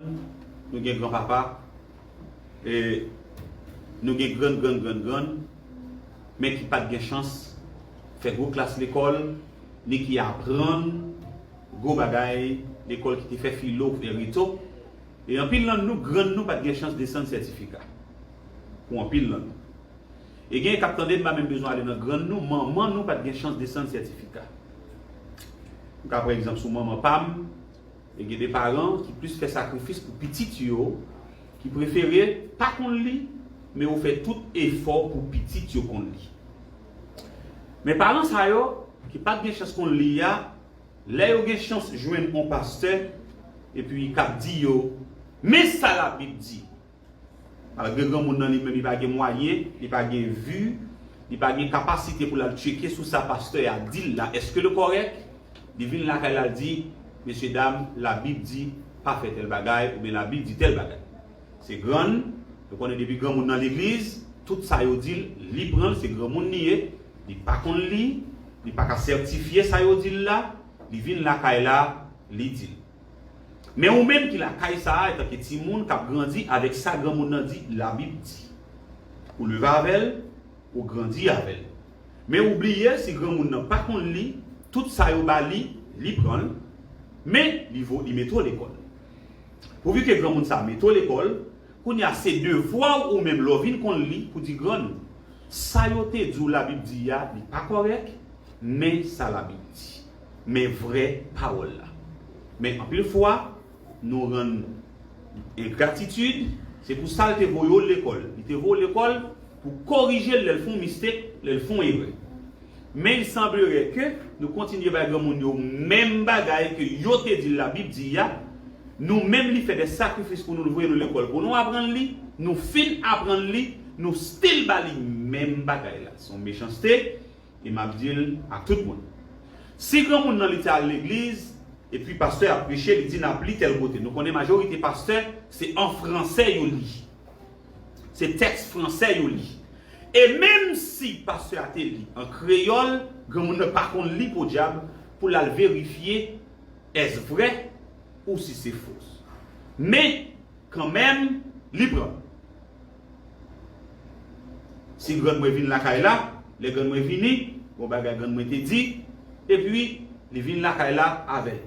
Nou gen gran papa e nou gen grann grann grann grann men ki pat gen chans fè gwo klas lekòl ni ki aprann gwo bagay lekòl ki te fè filo e reto e anpil nan nou grann nou pat gen chans desann sètifika pou anpil nan nou e gen k ap tande m pa menm bezwen ale nan grann nou manman nou pat gen chans desann sètifika m ka pran egzanp sou manman pa m. E gen de paran ki plis fè sakrifis pou pitit yo, ki prefere pa konn li, men yo fè tout efò pou pitit yo konn li. Men paran sa yo, ki pat gen chans konn li a, lè yo gen chans jwenn on pastè, epi kap di yo, men sa labib di! Malgre granmoun nan li menm li pa gen mwayen, li pa gen vi, li pa gen kapasite pou l al tcheke sou sa pastè a di l la èske l kòrèk, li vin lakay la l di, Mesye dam, Labib di pa fè tèl bagay oubyen Labib di tèl bagay. Se grann, nou konnen depi granmoun nan legliz, tout sa yo di l, li pran l, se granmoun li ye, li pa konn li, li pa ka sètifye sa yo di l la, li vin lakay la, li di l. Men ou menm ki lakay sa a etanke timoun kap grandi avèk sa granmoun nan di labib di. Ou leve avè l, ou grandi avè l. Men ou bliye si granmoun nan pa konn li, tout sa yo ba li, li pran l, men li vo li mete w lekòl. Pouvi ke granmoun sa a mete w lekòl, kounye a se devwa w ou menm lè w vin konn li pou di grann ou, sa yo te di w labib di a li pa kòrèk, men sa labib di. Men vrè pawòl la. Men anpil fwa, nou rann engratitid, se pou sa l te voye w lekòl. Li te voye w lekòl pou korije l lè l fè yon mistake, lè l fè yon erè. Men li sanblerait ke nou kontinye bay granmoun yo menm bagay ke yo te di l Labib di a, nou menm li fè dè sakrifis pou nou, l voye nou lekòl pou nou aprann li, nou fin aprann li, nou stil ba li menm bagay la. Se yon mechanste. E map dil a tout moun. Si granmoun nan li te al legliz epi pastè ap preche li di nap li tèl kote nou konnen majorite pastè se an fransè yo li se tèks fransè yo li e menm si pastè a te li an kreyòl granmoun nan pa konn li podyab pou lal verifye èske vrè ou si se fo men kanmenm li pran. Si grann mwen vin lakay la, lè grann mwen vini, bon bagay grann mwen te di, epi li vin lakay la avè l.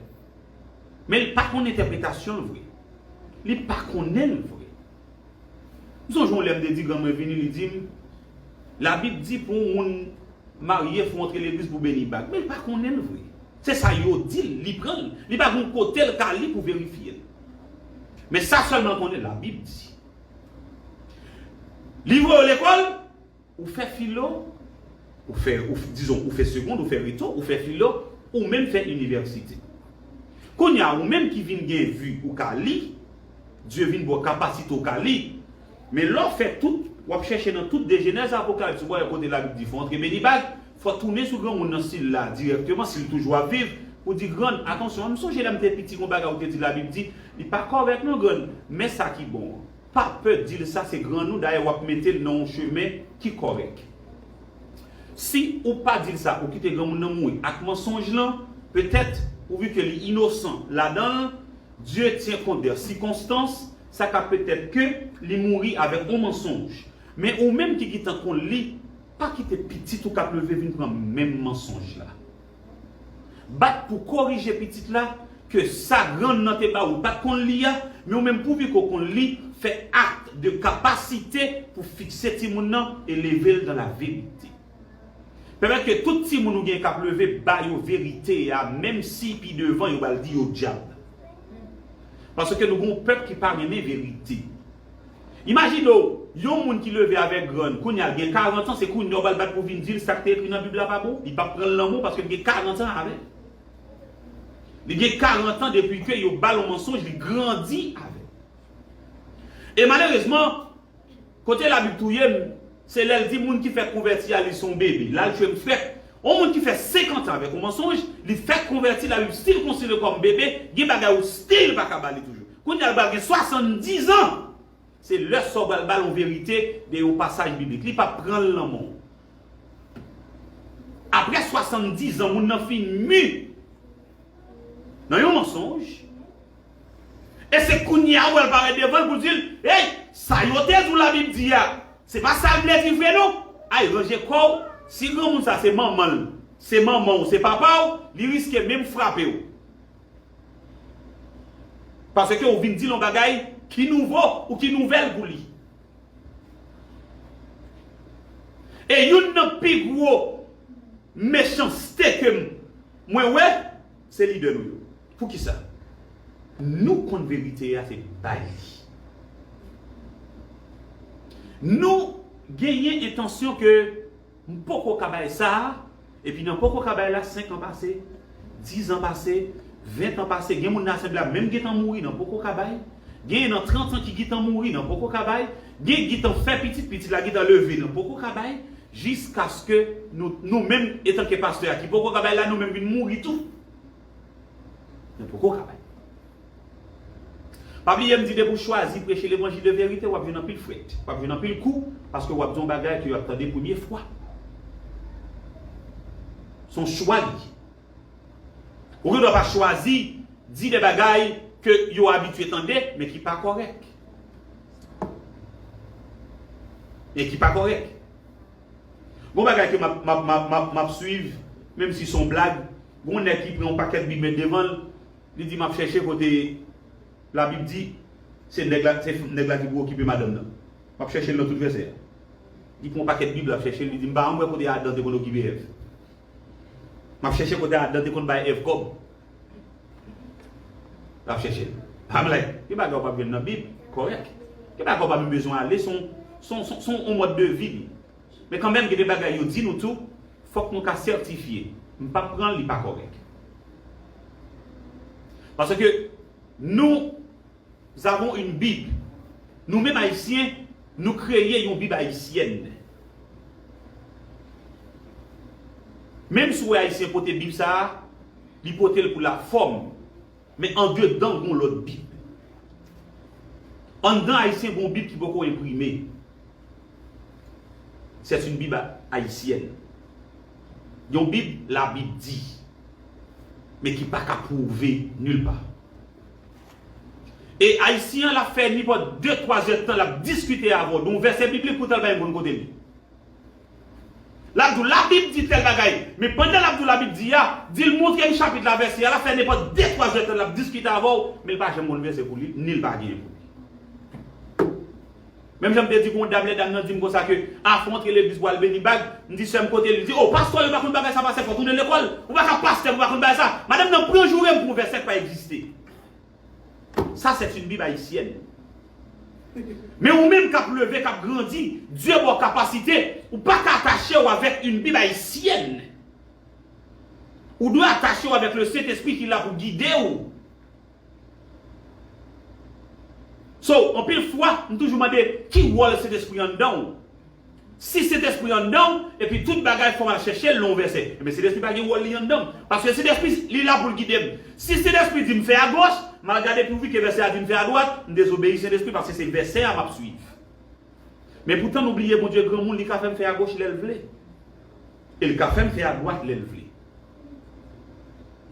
Men li pa konn entèpretasyon l vre. Li pa konnen l vre. M sonje yon lè m te di grann mwen vini, li di m, Labib di pou yon moun marye fò w antre legliz pou w beni bag. Men li pa konnen l vre. Se sa yo di l, li pran l. Li pa gen yon kote l ka li pou verifye l. Men sa sèlman l konnen, Labib di. Li voye w lekòl, ou fè filo, ou fè, dizon, ou fè segond, ou fè reto, ou fè filo, ou menm fè inivèsite. Kounye a, ou menm ki vin gen vi, ou ka li, Dye vin ba w kapasite w ka li. Men lè w fè tout, w ap chèche nan tout de Jenèz a Apokalipsi, w pa wè kote Labib di fè w antre beni bag, Fò tounen sou granmoun nan sila dirèkteman sil toujou ap viv pou di grann atansyon m sonje lèm te piti gon bagay ou te di labib di li pa kòrèk non grann men sa ki bon an pa pè dil sa se grann ou dayè wap metel nan yon chemen ki kòrèk si ou pa dil sa ou kite granmoun nan mouri ak mansonj lan petèt pouvi ke li inosan ladanl Dieu tient compte der sikonstans sa ka petèt ke li mouri avèk yon mansonj men ou menm ki gitan konn li. Pa kite pitit ou k ap leve vin pran menm mansonj la. Bat pou korije pitit la ke sa grann nan te ba ou pa t konn li a, men ou menm pouvi ke w konn li, fè acte de capacité pou fikse timoun nan e leve l dans la vérité. Pèmèt ke tout timoun ou gen k ap leve ba yo verite a menm si pi devan yo pral di yo dyab. Paske nou gen yon pèp ki pa renmen verite. Imajine w, yon moun ki leve avèk grann, kounye a l gen karantan, se kounye a w pral bat pou vin di l sa k te ekri nan Bib la pa bon? Li pap pran l nan mou paske l gen karantan avè l. Li gen karantan depi ke yo ba l yon mansonj li grandi avè l. E malerezman, kote Labib touye m, se lè l di moun ki fèk konvèti a li se yon bebe. La l tchwe m frèt. Yon moun ki fè senkantan avèk yon mansonj, li fèk konvèti, Labib stil konsidere l kòm bebe, gen bagay ou stil pa ka ba li toujou. Kounya l pral gen 70 ans se lè sa w pral bal yon verite de yon pasaj biblik li pap pran l nan men w aprè 70 ans moun nan fin mu nan yon mansonj e se kounya ou pral parèt devan l pou di l hey sa yo te di w la bib di a se pa sa l vle di vre non ay ranje kò w si granmoun sa se manman l se manman w se papa w li riske menm frape w. Paske ou vin di l yon bagay ki nouvo ou ki nouvèl pou li. E youn nan pi gwo mechanste ke mwen wè, se lidè nou yo. Poukisa? Nou konn verite a se bay li. Nou genyen entansyon ke. M poko ka bay sa a, epi nan poko ka bay la 5 an pase, 10 an pase, 20 tan pase, gen moun nan asenble a menm gentan mouri nan poko ka bay, genyen nan 30 an ki gitan mouri nan poko ka bay, gen gitan fè pitit, pitit la gitan leve nan poko ka bay, jiskaske nou nou menm etanke pastè a ki poko ka bay la nou menm vin mouri tou nan poko ka bay. Pa bliye m di depi w chwazi preche levanjil de verite wap jwenn anpil frèt, wap jwenn anpil kou paske wap di yon bagay ke yo ap tande premye fwa. Son chwa li ye. Ou gen dwa pa chwazi di de bagay ke yo abitye tande men ki pa kòrèk. Men ki pa kòrèk. Gon bagay ke map map map map swiv menm si son blag, gon nèg ki pran yon pakèt bib met devan l, Li di map chèche kote la bib di se nèg la se nèg la ki pou okipe madanm nan map chèchel nan tout vèsè a li pran yon pakèt bib lap chèchel li di mpa janm wè kote adan te konn okipe èv map chèche kote adan te konn bay èv kòb lap chèchel I'm like gen bagay ou pap jwenn nan bib kòrèk gen bagay ou pa menm bezwen ale son son son yon mòd de vi li. Men kanmenm gen de bagay yo di nou tou fòk nou ka sètifye. M pap pran l li pa kòrèk. Paske nous avons une bible. Nou menm Ayisyen nou kreye yon bib ayisyèn. Menm si w wè Ayisyen pote bib sa a, li pote l pou lafòm. Men andedan gon lòt bib. Anndan ayisyen gon bib ki poko enprime. C'est une bible haïtienne. Yon bib la bib di. Men ki pa ka pwouve nul pa. E ayisyen an la fè ni pòt 2 3 zè tan lap diskite avèw don vèsè biblik poutan l pa yon bon kote li. L ap di w, Labib di tèl bagay. Men pandan l ap di w Labib di a, di l montre m chapit la, vèsè a. L ap fè nenpòt de twa zètan l ap diskite avè w, men l pa janm konn vèsè pou li, ni l pa genyen pou li. Menm jan m te di gon dam lè dam nan di m konsa ke afè w antre legliz pou w al beni bag, m di sè m kote li? Li di, O, pastè w yo pa konn bagay sa pastè fò tounen lekòl. Ou pa ka pastè pou w pa konn bagay sa. Madanm nan pran joure m pou yon vèsè k pa egziste. Sa c'est une bible haïtienne. Men ou menm kap leve kap grandi, Dieu baw kapasite, ou paka atachew avèk une bible haïtienne. Ou dwe atachew avèk le Sentespri ki la pou gidew. So, anpil fwa, m toujou mande, ki wòl Sentespri anndanw? Si Sentespri anndan w, epi tout bagay fò m al chèche l nan yon vèsè, enben Sentespri pa gen wòl li anndan m. Paske Sentespri, li la pou l gide m. Si Sentespri di m fè agoch, m al gade pouvi ke vèsè a di m fè adwat, m dezobeyi Sentespri paske se vèsè a m ap suiv. Men poutan nou bliye Bondye granmoun, li ka fè m fè agoch lè l vle. E l ka fè m fè adwat lè l vle.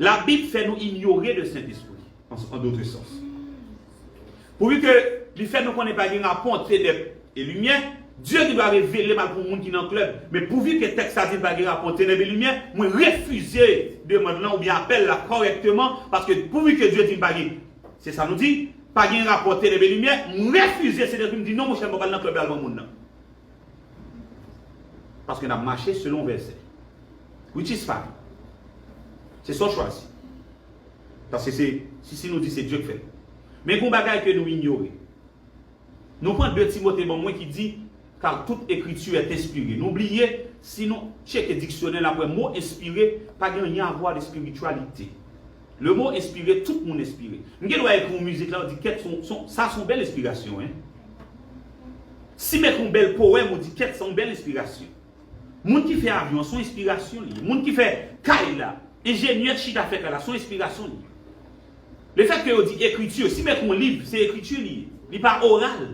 Labib fè nou inyore de Sentespri. an dotre sans. Pouvi ke li fè nou konnen pa gen rapò tenèb e limyè, Dye gen dwa revele mal pou moun ki nan klèb, men pouvi ke tèks la di n pa gen rapò tenèb e limyè, mwen refize demand lan oubyen apèl la kòrèkteman, paske pouvi ke Dye di n pa gen, se sa nou di, pa gen rapò tenèb e limyè, mwen refize, se tankou m di non monchè m pap al nan klèb la devan moun nan. Paske n ap mache selon vèsè. Which is fine. Se sa w chwazi. Paske se, si si nou di se Dye k fè l. Men gon bagay ke nou inyore. Nou pran 2 Timote ban mwen ki di, Car toute ecriture est inspirée. Nou bliye, si nou tcheke diksyonè n ap wè mo enspire pa gen anyen avwa de spiritualité. Le mot inspire, tout moun enspire. M gen dwa ekri yon mizik la ou di kèt son, son, sa son bèl enspirasyon hein. Si m ekri yon bèl powèm ou di kèt sa yon bèl enspirasyon. Moun ki fè avyon an son enspirasyon li. Moun ki fè kay la, enjenyè ki chita fè kay la son enspirasyon li. Le fèt ke yo di ekriti, si m ekri yon liv, se ekriti li ye. Li pa oral.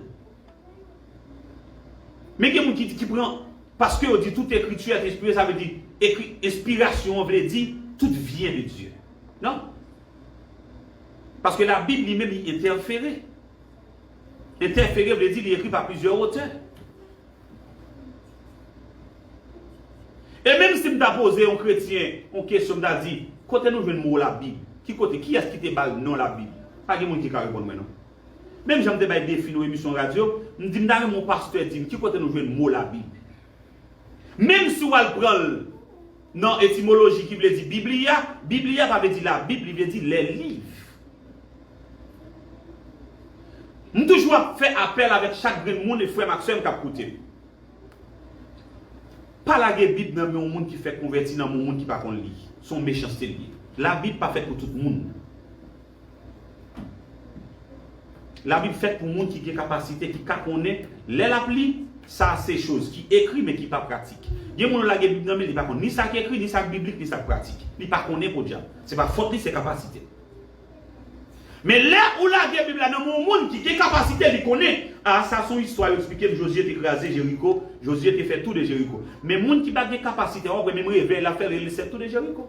Men gen moun ki di ki pran, paske yo di tout ekriti a te enspire, sa vle di, ekri, enspirasyon an vle di, tout vyen de Dye. Non. Paske la Bib li menm li entèfere. Entèfere vle di li ekri pa plizyè otè. E menm si m ta poze yon kretyen yon kesyon m ta di, kote nou jwenn mo labib? Ki kote? Kiyès ki te ba l non labib? Pa gen moun ki ka reponn mwen non. Menm jan m te bay defi nan yon emisyon radyo, m di m ta renmen yon pastè di m ki kote nou jwenn mo labib. Menm si w al pran l. Nan etimoloji ki vle di Biblia, Biblia pa vle di Labib, li vle di les livres. M toujou ap fè apèl avèk chak grenn moun e frè m ak sè m k ap koute m. Pa lage Bib nan men yon moun ki fèk konvèti nan men yon moun ki pa konn li. Se yon mechanste l ye. Labib pa fèt pou tout moun. Labib fèt pou moun ki gen kapasite, ki ka konnen lè l ap li. Sa a se choz ki ekri men ki pa pratik. Gen moun ou lage Bib nan men l, li pa konn ni sa k ekri, ni sa k biblik, ni sa k pratik. Li pa konnen podyab. Se pa fòt li, se kapasite l. Men lè ou lage Bib la nan men yon moun ki gen kapasite, li konnen. A Sa s on istwa yo eksplike m Jozye te kraze Jeriko, Jozye te fè tou de Jeriko. Men moun ki pa gen kapasite a, w ap wè menm revèy l ap fè l rele l sèl tou de Jeriko.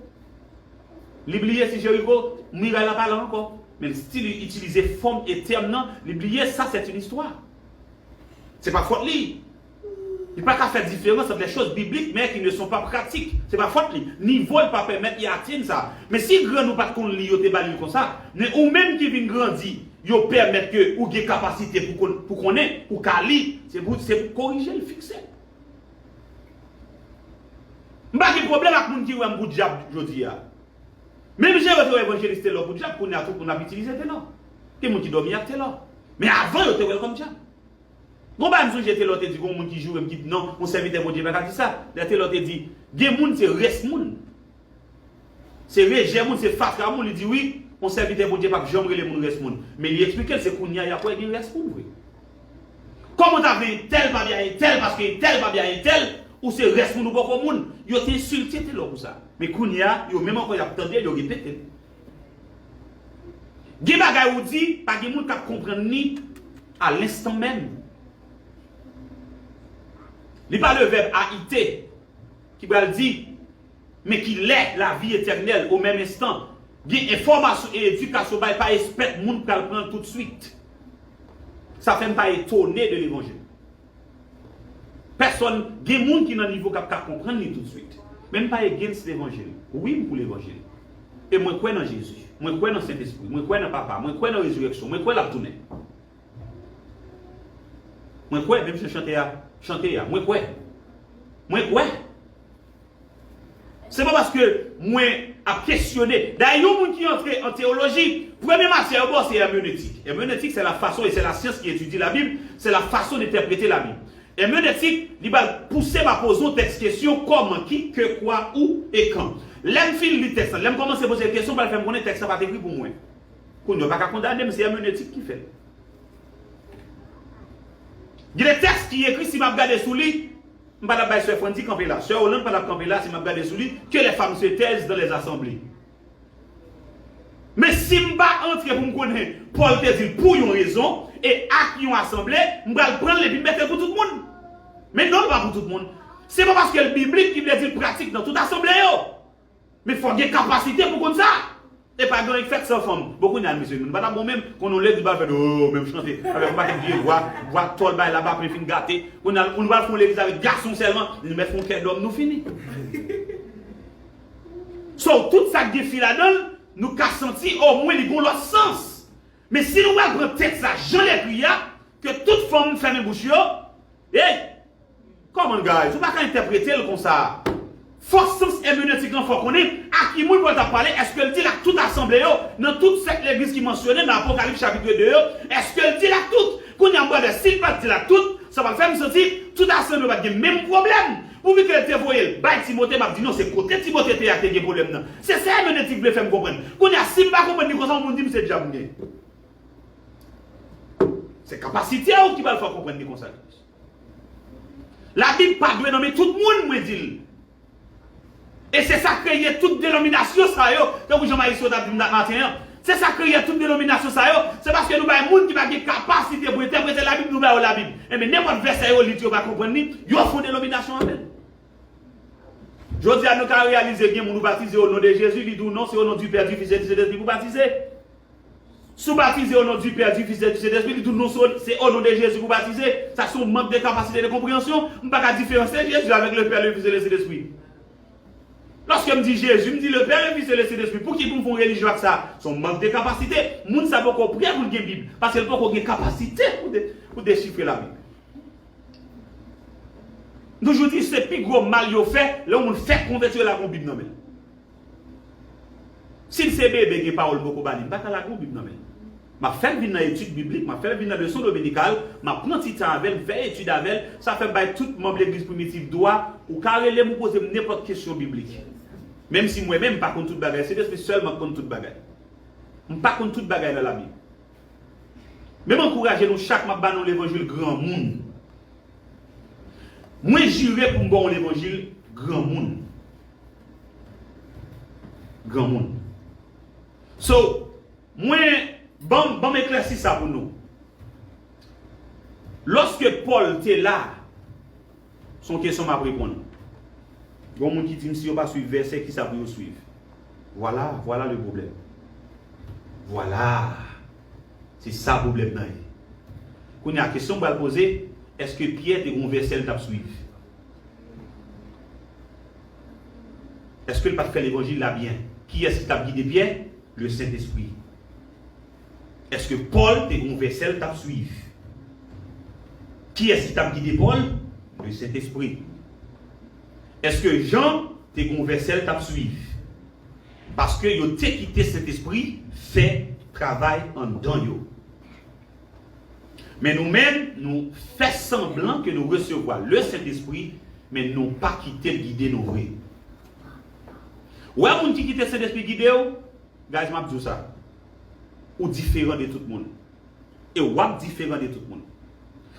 Li bliye si Jeriko, miray la pa la ankò. Men li stil itilize fòm e tèm nan, li bliye sa sèt yn istwa. Se pa fòt li. Li pa ka fè diferans ant lè choz biblik mè ki ne son pa pratik. Se pa fòt li. Nivo l pa pèmèt li atenn sa. Men si grann ou pat konn li yo te ba li l konsa, men ou menm ki vin grandi, yo pèmèt ke ou gen kapasite pou konnen, ou ka li, se pou, se pou korije l, fikse l. M pa gen pwoblèm ak moun ki wè m pou dyab jodi a. Menm jan yo te wè Evanjelis Telor pou dyab, kounye a tout moun ap itilize Telor. Gen moun ki dòmi ak Telor. Men avan yo te wè l kòm dyab. Gon bagay m sonje Telor te di gon moun ki joure m ki non yon sèvitè Bondye pa ka di sa. Dayè Telor te di gen moun se rès moun. Se rejè moun, se fatra moun li di wi, yon sèvitè Bondye pap janm rele moun rès moun. Men li eksplike l se kounye a y ap wè gen rès moun vre. Kòman w ta vle entèl pa bya entèl paske entèl pa bya entèl, ou se rès moun ou poko moun. Yo te ensilte Telor pou sa. Men kounye a, yo menm ankò y ap tande l, yo repete l. Gen bagay ou di, pa gen moun k ap konprann li a lenstan menm. Li pa le vèb a ite ki pral di. Men ki lè lavi etènèl o menm enstan gen enfòmasyon e edikasyon bay pa espèk moun pral pran l toutswit. Sa fè m pa etone de levanjil. Pèsòn gen moun ki nan nivo k ap ka konprann li toutswit. Men m pa against levanjil. Wi m pou levanjil. E mwen kwè nan Jezi. Mwen kwè nan Sentespri. Mwen kwè nan Papa. Mwen kwè nan rezirèksyon. Mwen kwè l ap tounen. Mwen kwè menm jan chantè a chante a. Mwen kwè. Mwen kwè. Se pa paske mwen ap kesyone. Dayè yon moun ki antre an teyoloji, premye matyè yo ba w se èmenetik. Èmenetik se la fason e se la syans ki etidye Labib, se la fason de entèprete Labib. Èmenetik, li ba l pouse ba poze yon tèks kesyon, kòman, ki, ke, kwa, ou, e kan. Lè m fin li tèks lan, lè m kòmanse poze l kesyon, m pral fè m konnen tèks la pa t ekri pou mwen. Kounye a w pa ka kondane m, se èmenetik ki fè l. Gen de tèks ki ekri si m ap gade sou li, M pa tap bay sè Frandy kanpe la. Sè Hollande pa tap kanpe la si map gade sou li que les femmes se taisent dans les assemblées. Men si m pa antre pou m konnen Paul te di l pou yon rezon e ak yon asanble, m pral pran l epi m mete l pou tout moun. Men non l pa pou tout moun. Se pa paske l biblik ki vle di l pratik nan tout asanble yo. Men fòk gen kapasite pou konn sa! E pa gen anyen k fèt san fanm. Bon kounye a mesye nou pa ta bon menm? Konn yon legliz bal fèt ooh menm chante avèk yon pakèt vye vwa, vwa tòl bay la vaplen fin gate. Kounye a nou pral fè yon legliz avèk gason sèlman, nou mèt fè yon kè dòm nou fini. So tout sa k gen fi ladan l nou ka santi omwen li gen yon lòt sans. Men si nou pral pran tèks la jan l ekri a, ke tout fanm fèmen bouch yo, Hey! Come on guys, ou pa ka entèprete l konsa. Fò sans èmenetik lan fò konnen a ki moun Pòl t ap pale, èske l di l ak tout asanble yo nan tout sèt legliz ki mansyone nan Apokalips chapitre 2 yo? Èske l di l ak tout? Kounye a, bradè, si l pa t di l ak tout, sa pral fè m santi tout asanble yo pa t gen menm pwoblèm. Pou mi kel te voyel bay timote map di non se kote timote te ya te gen pwoblem nan se sa èmenetik vle fèm konprann kounya sim pa konprann li konsa yon moun dim se djab mgen se kapasitew ki pral fèw konprann li konsa labib pa dwe nome tout moun mwen dil. E se sa kreye tout denominasyon sa yo, tankou jan Maestro tap dim la maten an. Se sa kreye tout denominasyon sa yo, se paske nou bay moun ki pa gen kapasite pou entèprete labib nou ba yo labib. Enben nenpòt vèsè yo li di yo pa konprann li, yo fon denominasyon avèl. Jodia nou ka reyalize gen moun ou batize o non de Jezi, li di w non se o non du pè, du fis e du sentespri pou batize. Si w batize o non di Pè, di Fis e di Sentespri, li di w non so, se o non de Jezi pou w batize, sa se yon mank de kapasite de konpreyansyon, m pa ka diferanse Jezi avèk le Pè, le Fis e le Sentespri. Lòske m di Jezi, m di le Pè, le Fis e le Sentespri, pou ki pou m fè yon relijyon ak sa? Se yon mank de kapasite, moun sa poko prè pou l gen Bib, paske l poko gen kapasite pou dechifre Labib. M toujou di se pi gwo mal yo fè lè yon moun fèk konvèti yo lage yon Bib nan men l. Si l se bebe gen pawòl m poko ba li, m pa ka lage yon Bib nan men l. M ap fè l vin nan etid biblik, m ap fè l vin nan leson dominikal, m ap pran ti tan avè l, m fè etid avè l. Sa fè m bay tout manm Legliz Primitiv dwa, ou ka rele m ou poze m nenpòt kesyon biblik. Menm si mwen menm m pa konn tout bagay, Sentespri sèlman k konn tout bagay. M pa konn tout bagay nan Labib. Men m ankouraje nou chak, m ap ba nou levanjil granmoun. Mwen jire pou m ba w levanjil granmoun. Granmoun. So, mwen, banm, banm eklèsi sa pou nou. Lòske Pòl te la, se yon kesyon map reponn. Gen yon moun ki dim si yo pa swiv vèsè kisa pou yo swiv. Vwala, vwala le pwoblèm. Vwala! Se sa pwoblèm nan ye. Kounya kesyon m pral poze, èske Pyè te gen yon vèsè li tap swiv? Eske l pa t fè levanjil la byen? Kiyès ki t ap gide Pyè? Lesentespri. Eske Pòl te gen yon vèsè l t ap suiv? Kiyès ki t ap gide Pòl? Lesentespri. Eske Jan te gen yon vèsè l t ap suiv? Paske yo te kite Sentespri fè travay anndan yo. Men nou menm, nou fè sanblan ke nou resevwa Lesentespri, men nou pa kite l gide nou vre. Ou wè moun ki kite Sentespri gide ou, guys map di ou sa, ou diferan de tout moun. E wap diferan de tout moun.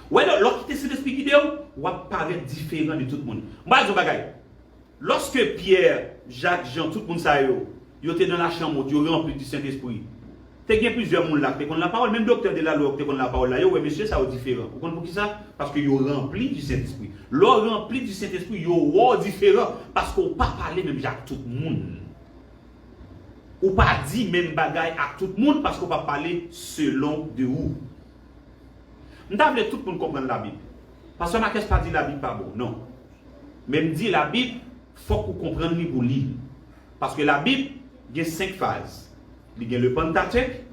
Ou wè lè w kite Sentespri gide ou, wap parèt diferan de tout moun. M pral di w yon bagay. Lòske Pyè, Jak, Jan, tout moun sa yo, yo te nan lachanm wot, yo ranpli di Sentespri. Te gen plizyè moun la k te konn lapawòl, menm doktè de lalwa yo k te konn lapawòl la, yo wè mesye sa yo diferan. Ou konn poukisa? Paske yo ranpli di Sentespri. Lè w ranpli di Sentespri, yo wè w diferan, paske w pa pale menm jan ak tout moun. Ou pa di menm bagay ak tout moun, paske w pa pale selon de ou. M ta vle tout moun konprann labib. Pastè Makès pa di labib pa bon non. Men m di labib fòk ou konprann li pou li. Paske labib gen 5 faz. Li gen le Pentateuque,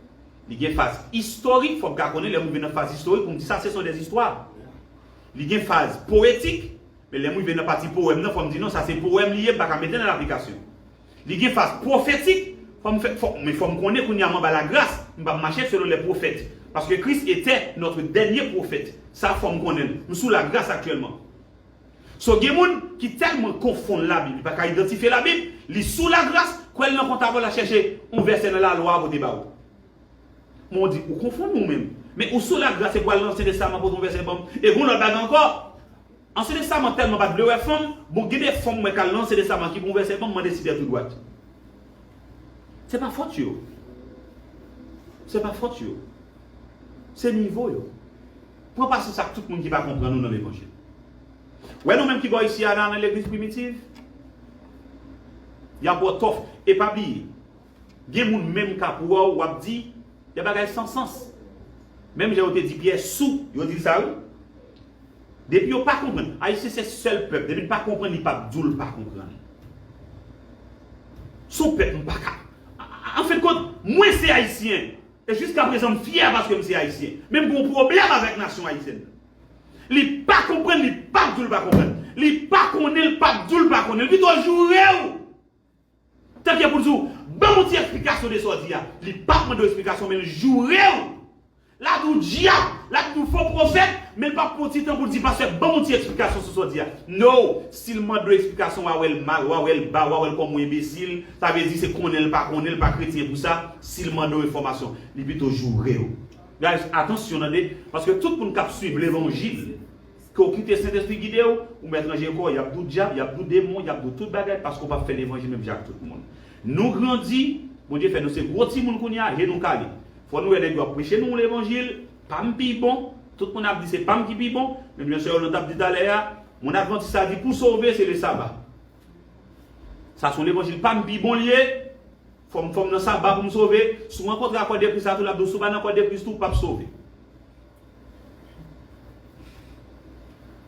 li gen faz istorik fòk ka konnen lè m rive nan faz istorik pou m di sa se son des histoires. Li gen faz poetik, men lè m rive nan pati powèm nan fò m di non sa se powèm li ye m pa ka mete l an aplikasyon. Li gen faz pwofetik, fò m fè, fò, men fò m konnen kounye a m anba lagras, m p ap mache selon lè pwofèt. Paske Kris etè notre dènye pwofèt. Sa fò m konnen l. M sou lagras aktyèlman. So gen moun ki tèlman konfonn Labib li pa ka idantifye Labib, li sou lagras, kwè l nan kont a vòl al chèche yon vèsè nan lalwa pote ba ou. Men w di, ou konfonn ou menm. Men ou sou lagras epi w al nan Ansyen Testaman pote yon vèsè ban m. E gen yon lòt bagay ankò. Ansyen Testaman tèlman pat vle wè fanm, bon gen de fanm mwen kal nan Ansyen Testaman ki pran yon vèsè banm mande sipè tou dwat. Se pa fòt yo. Se pa fòt yo. Se nivo yo. Pran pasyans ak tout moun ki pa konprann ou nan levanjil. Wè nou menm ki bò isi a la nan legliz primitiv, yap baw tòf. E pa bliye, gen moun menm kap wè w wap di de bagay san sans. Menm jan yo te di Pyè sou, yo dil sa wi. Depi yo pa konprann. Ayisyen se sèl pèp depi n pa konprann li pap di w l pa konprann. S on pèp m pa ka. An fen kont, mwen se Ayisyen e jiska prezan m fyè paske m se Ayisyen. Men m gen yon pwoblèm avèk nasyon Ayisyèn nan. Li pa konprann li pap di w l pa konprann. Li pa konnen l pap di w l pa konnen. Li pito joure w! Tanke pou l di w, Ban m yon ti esplikasyon de sa w di a. Li pap mande w esplikasyon, men l joure w. L'a di w dyab, l'a di w fo pwofèt, men l pap pran yon ti tan pou l di pastè ban m yon ti esplikasyon sou sa w di a. No! Si l mande w esplikasyon, w'a wè l mal, w'a wè l ba, w'a wè l kòm yon enbesil. Sa vle di se konnen l pa konnen, l pa kretyen pou sa. Si l mande w enfòmasyon, li pito joure w. Guys, atansyon tande, paske tout moun k'ap swiv levanjil, Ke w kite Sentespri gide w, ou mèt ranje kò w, y ap di w dyab, y ap di w demon, y ap di w tout bagay paske w p ap fè levanjil menm jan ak tout moun. Nou grandi, Bondye fè nou se gwo timoun kounye a, je nou kale. Fò nou wè nèg yo ap preche nou yon levanjil, pa m pi bon, tout moun ap di se pa m ki pi bon, menm jan sè Yolande t ap di talè a, moun advantis la di pou sove se le saba. Sa se yon levanjil pa m pi bon l ye, fò m fò m nan saba pou m sove, si w rankontre ak kòdepri sa tou l ap di w si w pa nan kòdepri tou w p ap sove.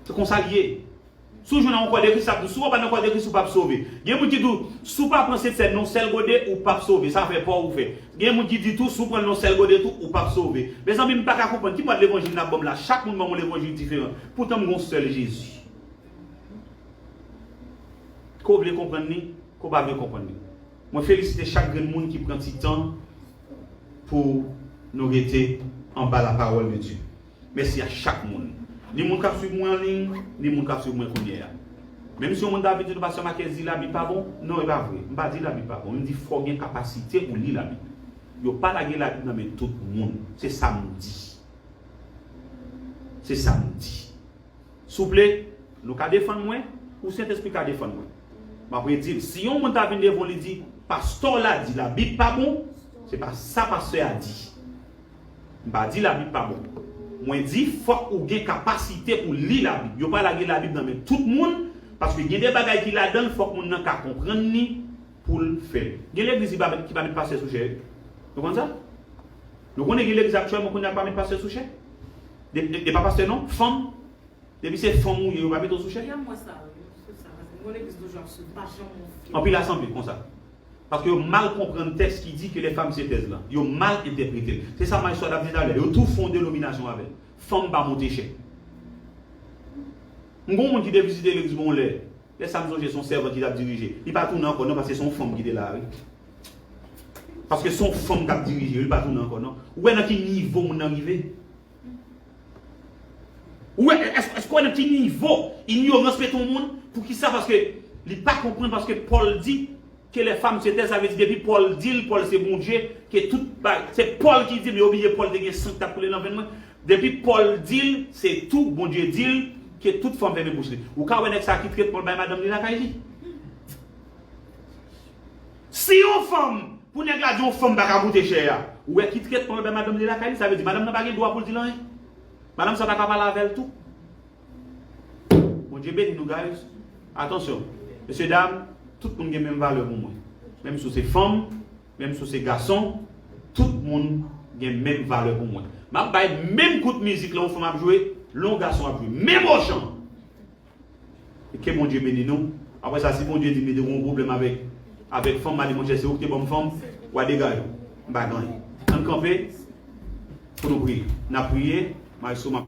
Se konsa li ye. Si w jwenn yon kòdekri sa ap di w si w pa nan kòdekri si w pap sove. Gen moun ki di w si w pa pran sent sèn non sèl gode ou pap sove sa fè paw ou fè. Gen moun ki di tou si w pran l non sèl gode tou ou pap sove. Mezanmi m paka konprann ki mòd levanjil nap banm la chak moun banm yon levanjil diferan poutan m gen yon sèl Jezi. Ke w vle konprann li ke w pa vle konprann li. Mwen felisite chak grenn moun ki pran ti tan pou nou rete anba la parole de Dieu. Mèsi a chak moun. Ni moun kap swiv mwen an ligne, ni moun kap swiv mwen kounye a. Menm si yon moun ta vin di nou pastè Marques di la bib pa bon, non e pa vre. M pa di la bib pa bon, men m di fò gen kapasite pou li la bib. Yo pa lage la bib nan men tout moun. Se sa m di. Se sa m di. Souple, nou ka defann mwen, ou Sentespri ka defann mwen. M ap redi l, si yon moun ta vin devan w li di, Pastè w la di Labib pa bon, se pa sa pastè a di. M pa di Labib pa bon. Mwen di fòk ou gen kapasite pou li Labib. Yo pa lage Labib nan men tout moun, paske gen de bagay ki ladan l fòk moun nan ka konprann li pou l fè l. Gen legliz ki pa met pastè sou chè, nou konn sa? Nou konnen gen legliz aktyèlman kounye a k pa met pastè sou chè? E pa pastè non, fanm. Depi se fanm ou ye yo pa mete w sou chè? Anpil la sanble konsa. Paske yo mal konprann tèks ki di ke les femmes se taisent lan. Yo mal entèprete l. Se sa Maestro a t ap di talè. Yo tou fon denominasyon avè l. Fanm pa monte chè. M gen yon moun ki te vizite legliz mwen yon lè. Lè sa m sonje son sèvant ki tap dirije. Li pa tounen ankò non paske son fanm ki te la wi. Paske son fanm kap dirije wi li pa tounen ankò non. Ou wè nan ki nivo moun nan rive? Ou wè èske ou wè nan ki nivo inyorans mete yon moun? Poukisa paske li pa konprann paske Paul di ke les femmes se taisent sa vle di depi Paul dil Paul se Bondye ke tout bagay se Paul ki dil yo bliye Paul te gen san ki tap koule nan venn mwen Depi Paul dil se tou Bondye dil ke tout fanm fèmen bouch li. Ou ka wè nèg sa ki trèt Paul bay madanm li lakay li. Si yon fanm pou nèg la di yon fanm paka goute chè a. Ou wè ki trèt Paul bay madanm li lakay li sa vle di madanm nan pa gen dwa poul dil anyen. Madanm sa paka pale avèl tou. Bondye beni nou guys. Atansyon. Mesye dam tout moun gen menm valè pou mwen. Menm si ou se fanm. Menm si w se gason, tout moun gen menm valè pou mwen. M ap bay menm kout mizik lè yon fanm ap jwe, lè yon gason ap jwe. Menm ochan! E ke Bondye beni nou. Apre sa, si Bondye di m li te gen yon pwoblèm avèk, avèk fanm, m a di, Monchè, se ou ki te ban m fanm, wa degaj ou. M pa gen anyen. Ann kanpe pou nou priye. N ap priye. Mayestwo, m ap.